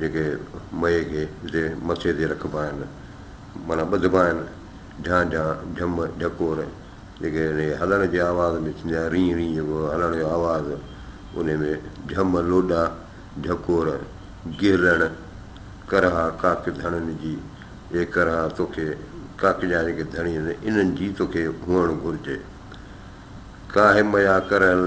جيڪي مئي کي جتي مٿي تي رکبا آهن معنيٰ ٻڌبا آهن جھان جھان، جھم، جھڪور جيڪي ان جي هلڻ جي آواز ۾ ٿيندي آهي رينء رينء جيڪو هلڻ جو آواز انهي ۾ جھم، لوڏا، جھڪور، گهلڻ، ڪرها ڪاڪ ڌڻين جي اي ڪرها توکي ڪاڪ جا جيڪي ڌڻي آهن انهن جي توکي هئڻ گهرجي ڪاهي مئا ڪرهل.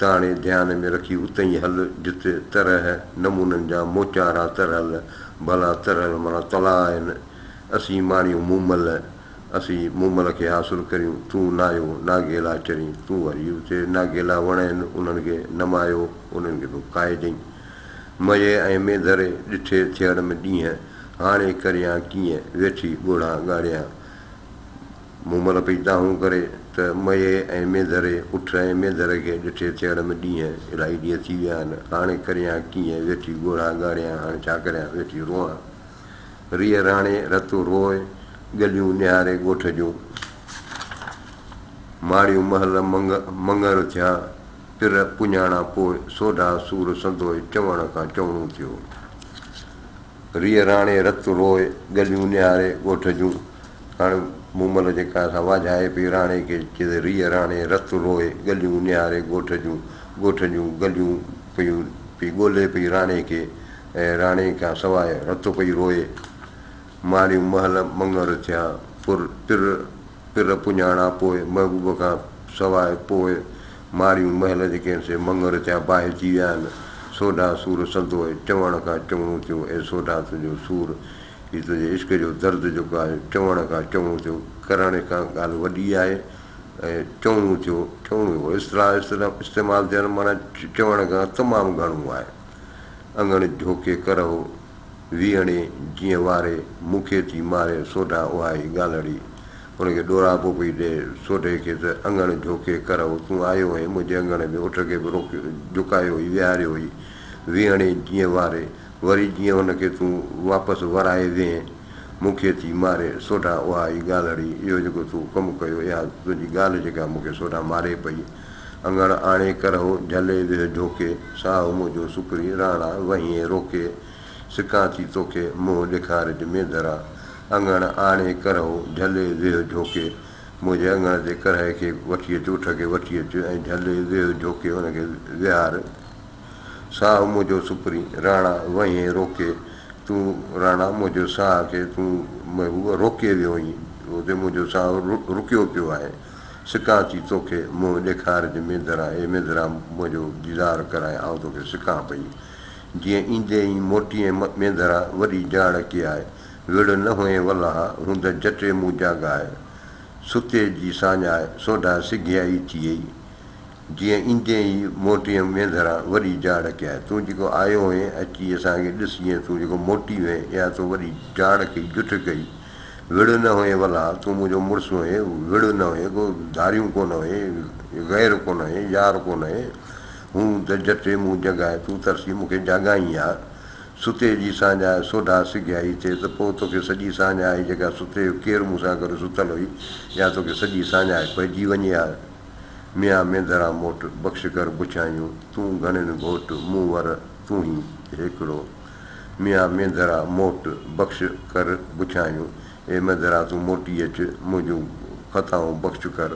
تاڻي ڌيان ۾ رکي اتئين هل جتي طرح نمونن جا موچارا ترهل ڀلا ترهل معنيٰ تلاء آهن. اسين ماڻيون مومل، اسين مومل کي حاصل ڪريون، تون نايو ناگيلا چرين، تون وري اتي ناگيلا وڻ آهن انهن کي نمايو، انهن کي به کائجئين. مئي ۽ مينڌري ڏٺي ٿيڙم ڏينهن، هاڻي ڪريان ڪيئن، ويٺي ڳوڙها ڳاڙيان. مون مھل پئي دانھون ڪري ته مئي ۽ مينڌري، اٺ ۽ مينڌر کي ڏٺي ٿيڻ ۾ ڏينھن، الائي ڏينھن ٿي ويا آھن، ھاڻي ڪريان ڪيئن، ويٺي ڳوڙھا ڳاڙيان، ھاڻي ڇا ڪريان، ويٺي روئان. ريء راڻي، رتو روئي، ڳليون نھاري ڳوٺ جون. ماڙيون مھل مڱ مڱر ٿيا، پھر پڃاڻا پوء سوڍا سور سندوء چوڻ کان چوڻو ٿيو. ريء راڻي رت روء ڳليون نهاري ڳوٺ جون. هاڻ مومل جيڪا سا واجهائي پئي راڻي کي چئي ته ريء راڻي رت روء ڳليون نهاري ڳوٺ جون. ڳوٺ جون ڳليون پيون پئي ڳولي پئي راڻي کي ۽ راڻي کان سواء رت پئي روئي. ماريون مهل مڱر ٿيا پر تر پھر پڃاڻا پوء محبوب کان سواء پوء ماڙيون مھل جي ڪنھن سي مڱر تيان باھجي ويا آھن سوڍا سور سندوء چوڻ کان چوڻو ٿيو اي سوڍا تنھنجو سور ھي تنھنجي عشق جو درد جيڪو آھي چوڻ کان چوڻو ٿيو ڪرڻ کان ڳالھ وڏي آھي ۽ چوڻو ٿيو چوڻو ٿيو اصطلاح استعمال ٿيا آھن معنيٰ چوڻ کان تمام گھڻو آھي اڱڻ جھوڪي ڪرھو ويهڻي جيئن واري، مون کي ٿي ماري سوڍا اها ئي ڳالهڙي. ان کي ڏوراپو پئي ڏي سوڍي کي ته اڱڻ جهوڪي ڪرهو، تون آيو هئين منهنجي اڱڻ ۾ اٺ کي به روڪيو جهڪايو هئي ويهاريو هئي ويهڻي جيئن واري، وري جيئن ان کي تون واپس ورائي ويهين، مون کي ٿي ماري سوڍا اها ئي ڳالهڙي. اهو جيڪو تو ڪم ڪيو، اها تنهنجي ڳالهه جيڪا مون کي سوڍا ماري پئي. اڱڻ آڻي ڪرهو جهلي ويهه جهوڪي، ساهو منهنجو سڪري راڻا وهينء روڪي، سڪان ٿي توکي منهن ڏيکارج مينڌرا، اڱڻ آڻي ڪرهو جهلي ويهه جهوڪي، منهنجي اڱڻ تي ڪرهي کي وٺي اچ اٺ کي وٺي اچ ۽ جهلي ويهه جهوڪي ان کي ويهار، ساهو منهنجو سڪري راڻا وهينء روڪي، تون راڻا منهنجي ساهه کي تون روڪي ويو آهين، هتي منهنجو ساهو رڪيو پيو آهي. سڪان ٿي توکي منهن ڏيکار جي مينڌرا اي مينڌرا منهنجو ديدار ڪرائي آئون توکي سڪان پئي جيئن ايندي ئي موٽيئين مينڌرا وڏي جاڙ ڪي آء وڙهه نه هئين ولها هوند جٽي مون جاڳائي ستي جي ساڃاهه سوڍا سگهيا ئي ٿيئي جيئن ايندين ئي موٽيم ويندران وڏي جاڙ ڪيائين. تون جيڪو آيو هئين، اچي اسان کي ڏس جيئن تون جيڪو موٽي وئين، اها تو وڏي جاڙ ڪئي، جٺ ڪئي. وڙهه نه هئين ولا، تون منهنجو مڙس هئين، وڙهه نه هئين، ڪو ڌاريون ڪونه هئين، غير ڪونه هئين، يار ڪونه هئين. هون ته جٽي مون جڳائي، تون ترسي مون کي جاڳائين ها. ستي جي ساڃاهه سوڍا سگهيائي ٿئي ته پوء توکي سڄي ساڃاهه آئي جيڪا ستي جو ڪير مون سان گڏ ستل هئي، اها توکي سڄي ساڃاهه پئجي وڃي ها. ميان مينڌرا موٽ، بخش ڪر بڇايون، تون گهڻين گهوٽ، مون ور تون هين هيڪڙو. ميان مينڌرا موٽ، بخش ڪر بڇايون، اي مينڌرا تون موٽي اچ، منهنجون خطائون بخش ڪر،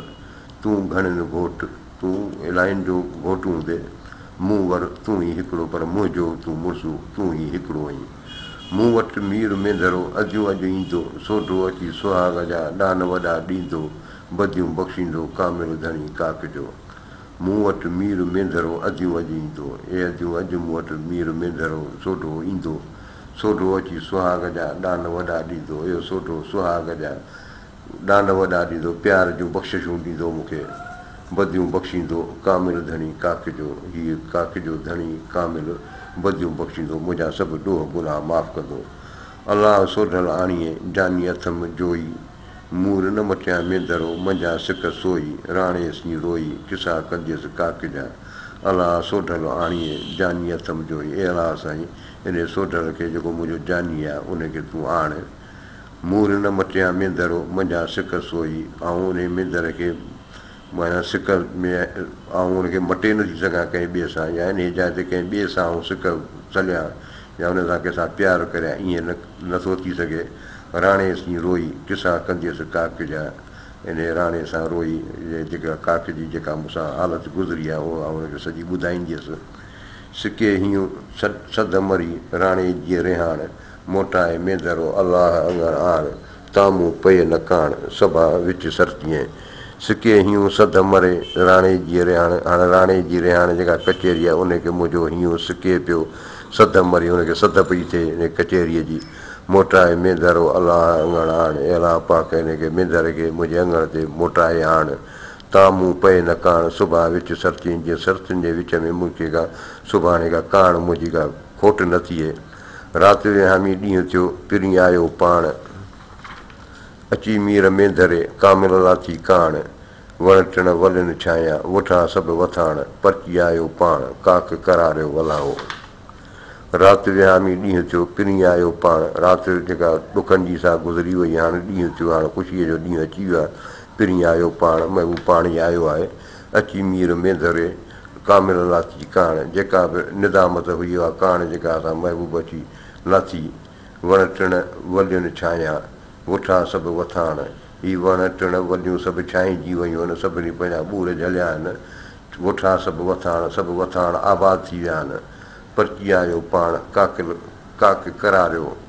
تون گهڻين گهوٽ، تون الائين جو گهوٽ هوندي، مون ور تون هين هيڪڙو، پر منهنجو تون مڙسو، تون هين هيڪڙو آهين. مون وٽ مير مينڌرو اديون اڄ ايندو، سوڍو اچي سهاڳ جا ڏان وڏا ڏيندو، بديون بخشيندو ڪامل ڌڻي ڪاڪ جو. مون وٽ مير مينڌرو اديون اڄ ايندو. اي اديون اڄ مون وٽ مير مينڌرو سوڍو ايندو. سوڍو اچي سهاڳ جا ڏان وڏا ڏيندو. اهو سوڍو سهاڳ جا ڏان وڏا ڏيندو. پيار جون بخششون ڏيندو مون کي. بديون بخشيندو ڪامل ڌڻي ڪاڪ جو. هيء ڪاڪ جو ڌڻي ڪامل بديون بخشيندو. منهنجا سڀ ڏوهه گناهه معاف ڪندو. الله سوڍل آڻيئي جاني اٿم جوئي. مور نه مٽيا مين درو، منجهان سڪ سوئي، راڻي اسڃي روئي، قصا ڪنديس ڪاڪ جا، الاء سوڍل آڻيئي، جاني اٿم جوئي، اي الاء سائين، انهي سوڍل کي جيڪو منهنجو جاني آ، انهي کي تون آڻ. مور نه مٽيا مين درو، منجهان سڪ سوئي، آئون انهي مين در کي معنيٰ سڪ ۾ آئون ان کي مٽي نٿي سگهان ڪنهن ٻئي سان يا انهي جاء تي ڪنهن ٻئي سان آئون سڪ سليان، يا ان سان ڪنهن سان پيار ڪريان ائين نه ٿو ٿي سگهي. راڻي سين روئي قصا ڪنديس ڪاڪ جا انهي راڻي سان روئي جيڪا ڪاڪ جي جيڪا مون سان حالت گذري آهي اها آئون ان کي سڄي ٻڌائينديس. سڪي هيون سڌ مري راڻي جي رهاڻ موٽائي ميندرو الله اڱڻ آڻ تان مون پئي نه ڪاڻ، سڀا وچ سرتيين. سڪي هيون سڌ مري، راڻي جي رهاڻ. هاڻ راڻي جي رهاڻ جيڪا ڪچهري آهي، انهي کي منهنجو هيون سڪي پيو، سڌ مري، ان کي سڌ پئي ٿئي انهي ڪچهريء جي. موٽائي مينڌر و الاهه اڱڻ آڻ، اي الاهه پاڪ انهي کي، مينڌر کي، منهنجي اڱڻ تي موٽائي آڻ. تان مون پئي نه ڪاڻ، سڀا وچ سرتيين، جيئن سرتين جي وچ ۾ مون کي ڪا، سڀاڻي ڪا، ڪاڻ منهنجي ڪا کوٽ نه ٿئي. رات وهامي ڏينهن ٿيو، پرين آيو پاڻ. اچي مير ۾ ڌري، ڪامل لاٿي ڪاڻ. وڻ ٽڻ ولين ڇانيا، وٺان سڀ وٿاڻ. پرچي آيو پاڻ، ڪاڪ ڪراريو ولائو. رات وهامي ڏينهن ٿيو، پرين آيو پاڻ. رات جيڪا ڏکن جي سا گذري وئي، هاڻ ڏينهن ٿيو، هاڻ خوشيء جو ڏينهن اچي ويو آهي. پرين آيو پاڻ، مئو پاڻ ئي آيو آهي. اچي مير مينڌري ڪامل الناس جي ڪاڻ جيڪا به ندامت هئي اها ڪاڻ جيڪا اسان محبوب اچي ناٿي وڻ ٽڻ ولين ڇانيا وٺا سڀ وٿاڻ هي وڻ ٽڻ وليون سڀ ڇانئجي ويون آهن سڀني پنهنجا ٻور جهليا آهن وٺا سڀ وٿاڻ سڀ وٿاڻ آباد ٿي ويا آهن پرچي آيو پاڻ ڪاڪل ڪاڪ ڪراريو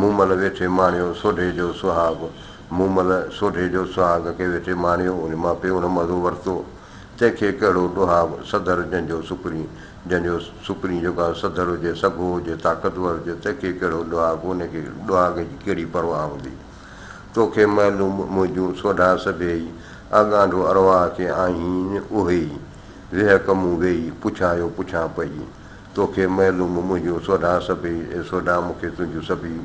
مومل ويٺي ماڻيو سوڍي جو سهاڳ مومل سوڍي جو سهاڳ کي ويٺي ماڻيو، ان مان پيو نه مزو ورتو، تنهن کي ڪهڙو ڏوهاء، سڌر جنهن جو سڪرين، جنهن جو سڪرين جو ڪا سڌر هجي، سگهو هجي، طاقتور هجي، تنهن کي ڪهڙو ڏوهاء، ان کي ڏوهاڳ جي ڪهڙي پرواهه هوندي. تو کي معلوم منهنجون سوڍا سڀيئي، آ ڳانڍو ارواح کي آهين اهيئي، ويهڪ مون ويئي، پڇايو پڇان پئي، توکي معلوم منهنجون سوڍا سڀيئي اي سوڍا مون کي تنهنجون سڀيئي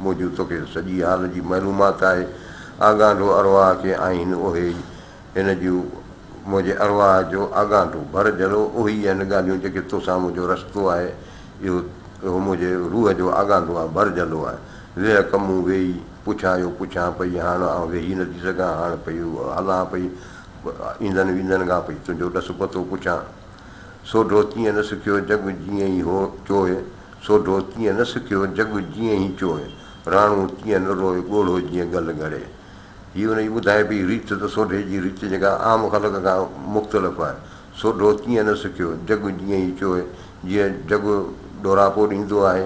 منهنجون توکي سڄي حال جي معلومات آهي آڳانڍو ارواح کي آهين اهي ئي هن جون منهنجي ارواح جو آڳانڍو ڀر جلو اهي ئي آهن ڳالهيون جيڪي توسان منهنجو رستو آهي اهو اهو منهنجي روح جو آڳانڍو آهي ڀر جلو آهي ويهه ڪه مون ويهي پڇان اهو پڇان پئي هاڻ آئون ويهي نٿي سگهان هاڻ پئي هلان پئي ايندن ويندن کان پئي تنهنجو ڏس پتو پڇان. سو ڍو تيئن نه سکيو جڳ جيئن ئي هو چوء سو ڍو تيئن نه سکيو جڳ جيئن ئي چوء راڻو تيئن نه روء ڳوڙهو جيئن ڳل ڳڙي. هي ان جي ٻڌائي پئي ريت ته سوڍي جي ريت جيڪا عام خلق کان مختلف آهي. سو ڍو تيئن نه سکيو جڳ جيئن ئي چوء جيئن جڳ ڏوراپو ڏيندو آهي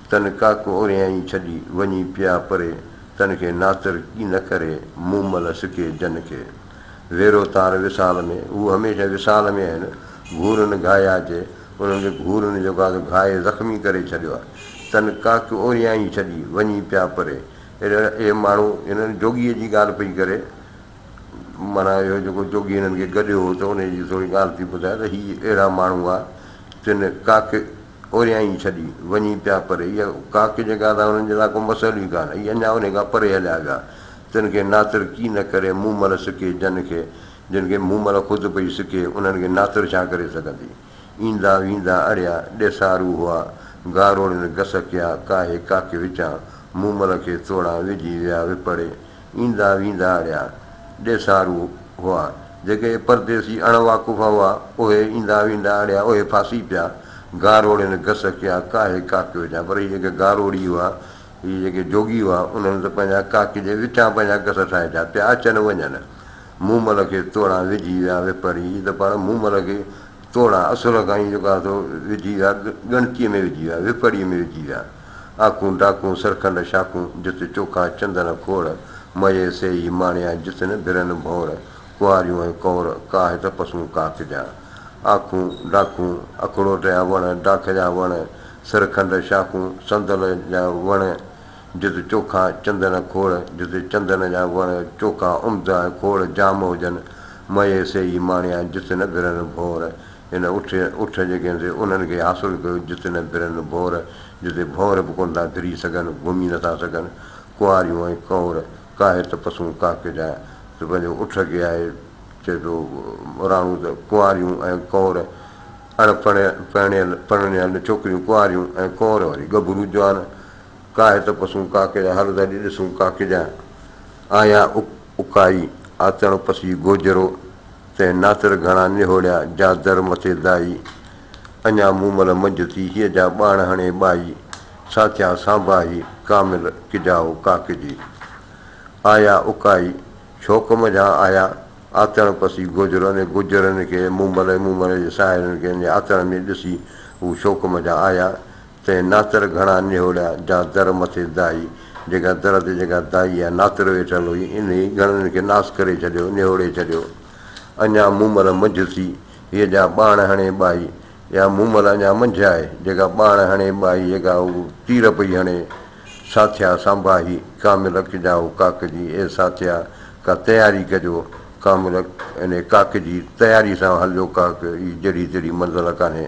تن ڪاڪ اوريائين ڇڏي، وڃي پيا پري، تن کي ناتر ڪي نه ڪري، مومل سڪي جن کي. ويرو تار وصال ۾، هو هميشه وصال ۾ آهن، گهورن گهايا جي، انهن جي گهورن جو گاز گهائي زخمي ڪري ڇڏيو آهي. تن ڪاڪ اوريائين ڇڏي، وڃي پيا پري. اهڙا اهي ماڻهو هن جوڳيء جي ڳالهه پئي ڪري، معنيٰ اهو جيڪو جوڳي هنن کي گڏيو هو ته انهيء جي ٿوري ڳالهه ٿي ٻڌائي ته هي اهڙا ماڻهو هئا، تن ڪاڪ. اوريائين ڇڏي وڃي پيا پر اها ڪا ڪجهه ڪا ته انهن جي لاء ڪو مسئلو ئي ڪانه اهي اڃا انهي کان پري هليا ويا تن کي ناتر ڪي نه ڪري مون مل سڪي جن کي جن کي مون مل خود پئي سڪي انهن کي ناتر ڇا ڪري سگهندي ايندا ويندا اڙيا ڏيسارو هئا گاروڙين گس ڪيا ڪاهي ڪاڪي وچان مون مل کي توڙان وجهي ويا وپڙي ايندا ويندا اھڙيا ڏيسارو ھئا، جيڪي پرديسي اڻ واقف ھئا، اھي ايندا ويندا اھڙيا اھي ڦاسي پيا، گاروڙين گس ڪيا، ڪاھي ڪاڪ وچان، پر ھي جيڪي گاروڙي ھئا، ھي جيڪي جوڳي ھئا، انھن ته پنھنجا ڪاڪ جي وچان پنھنجا گس ٺاھي ڇڏيا، پيا اچن وڃن، مومل کي توڙان وجھي ويا ويپري، ھي ته پاڻ مومل کي توڙان اصل کان ئي جيڪو آھي سو وجھي ويا، ڳڻتيء ۾ وجھي ويا، ويپري ۾ وجھي ويا. آکون ڊاڪون سرکنڊ شاخون، جت چوکا چندن کوڙ، مئي سي ئي ماڻيان جت نه ڀرن ڀونر، ڪنواريون ۽ ڪنور، ڪاهه تپسون ڪاڪ جا. آکون ڊاکون، اکڙوٽ جا وڻ، ڊاک جا وڻ، سرکنڊ شاخون، صندل جا وڻ، جت چوکا چندن کوڙ، جت چندن جا وڻ چوکا عمدا ۽ کوڙ جام هجن، مئي سي ئي ماڻيان جت نه ڀرن ڀونر، هن اٺ اٺ جيڪي سي انهن کي حاصل ڪيو جت نه برن ڀور، جتي ڀونر به ڪونه ٿا بري سگهن، گهمي نه ٿا سگهن، ڪنواريون ۽ ڪنور ڪاهي ته پسون ڪاڪ جا ته پنهنجو اٺ کي آهي چئي ٿو راڻو ته ڪنواريون ۽ ڪنور اڻ پڻ پڻيل پرڻيل ڇوڪريون ڪنواريون ۽ ڪنور وري ڳڀرو جوان ڪاهي ته پسون ڪاڪ جا هل ته اڄ ڏسون ڪاڪ جا آيا اڪائي آتڻ پسي گوجرو تنهن ناتر گهڻا نهوڙيا، جا در مٿي دائي. اڃا مومل منجهه ٿي، هيء جا ٻاڻ هڻي ٻائي. سا ٿيا سانڀاهي، ڪامل ڪجائو ڪاڪ جي. آيا اڪائي، شوق منجهان آيا، آتڻ پسي گوجرن ۽ گوجرن کي، مومل ۽ مومل جي ساهيڙن کي، انهيء آتڻ ۾ ڏسي، هو شوق منجهان آيا، تنهن ناتر گهڻا نهوڙيا، جا در مٿي دائي، جيڪا در تي جيڪا دائي يا ناتر ويٺل هئي، انهيء گهڻن کي ناس ڪري ڇڏيو، نهوڙي ڇڏيو. اڃا مومل منجهه ٿي، هيء جا ٻاڻ هڻي ٻائي، يا مومل اڃا منجهه آهي، جيڪا ٻاڻ هڻي ٻائي، جيڪا هو تير پئي هڻي. ساٿيا سانباهي، ڪاملڪ جا هو ڪاڪجي، اي ساٿيا! ڪا تياري ڪجو. ڪاملڪ، انهيء ڪاڪجي، تياري سان هلجو ڪاڪ، هي جهڙي تهڙي منزل ڪانهي.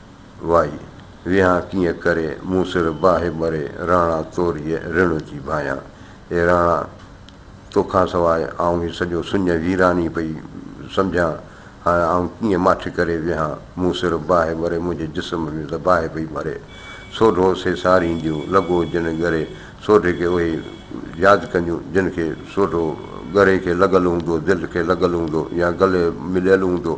وائي ويهان ڪيئن ڪري، مون سر باهه مري، راڻا توريء رڻ جي ڀانيان. اي راڻا! تو کان سواء آئون هي سڄو سڃ ويراني پئي سمجهان، هاڻ آئون ڪيئن ماٺ ڪري ويهان، مون سر باهه مري، منهنجي جسم ۾ ته باهه پئي مري. سوڍو سي سارينديون، لڳو جن ڳري سوڍي کي اهي ياد ڪنديون، جن کي سوڍو ڳري کي لڳل هوندو، دل کي لڳل هوندو يا گلي مليل هوندو.